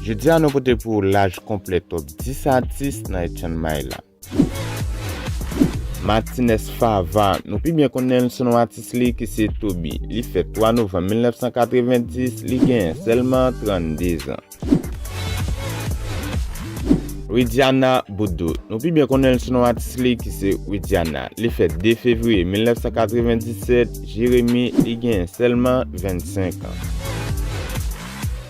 Jodi a nou pote pou ou laj konplè top 10 atis nan et chan may la. Martinez Fava, nou pi byen konnen l sou non atis li ki se Toby. Li fèt 3 novanm 1990, li genyen sèlman 32 zan. Widiana Boudou, nou pi byen konnen l sou non atis li ki se Widiana. Li fèt 2 fevriye 1997, Jeremi, li genyen sèlman 25 an.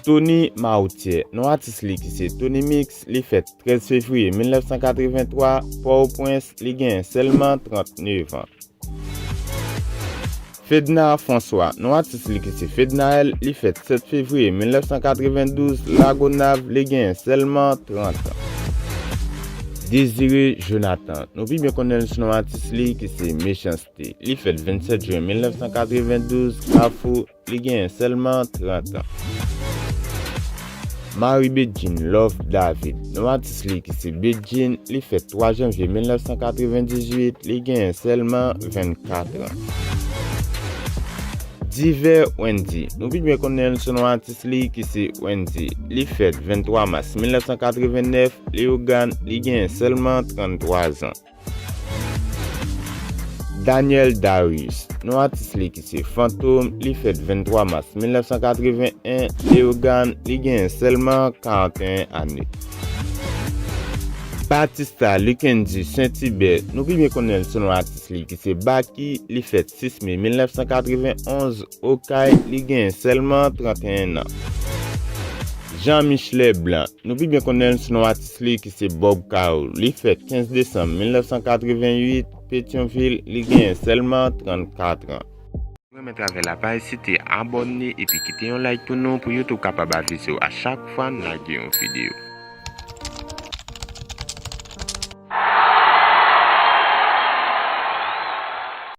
Tony Mauthier, non atis li ki se Tony Mix, li fèt 13 fevriye 1983, Pò-o-Pwens, li genyen sèlman 39 an. Fedna François, non atis li ki se Fednaelle, li fèt 7 fevriye 1992, Lagonav, li genyen sèlman 30 an. Désiré Jonathan, nou pi byen konnen l sou non atis li ki se Mechans-T, li fèt 27 jen 1992, Kafou, Li genyen sèlman 30 an. Marie Bedjine Love David, non atis li ki se Bedjine, li fèt 3 janvye 1998, li genyen sèlman 24 an. Diver Wendy, nou pi byen konnen l sou non atis li ki se Wendy, li fèt 23 mas 1989, Leyogàn, li genyen sèlman 33 an. Daniel Darius, non atis li ki se Fantom, li fèt 23 mas 1981, Leyogàn, li genyen sèlman 41 ane. Batista Luckendy Saintibert, nou pi byen konnen l sou non atis li ki se Baky, li fèt 6 me 1991, Okay, li genyen sèlman 31 nan. Jean Michelet Blanc, nou pi byen konnen l sou non atis. Li ki se Bob Carew, li fèt 15 desanm 1988, Petyonvil, li genyen sèlman 34 an. Ou renmen travay la pa ezite abòne epi kite yon like pou nou pou YouTube kapab avisew a chak fwa n lage yon video.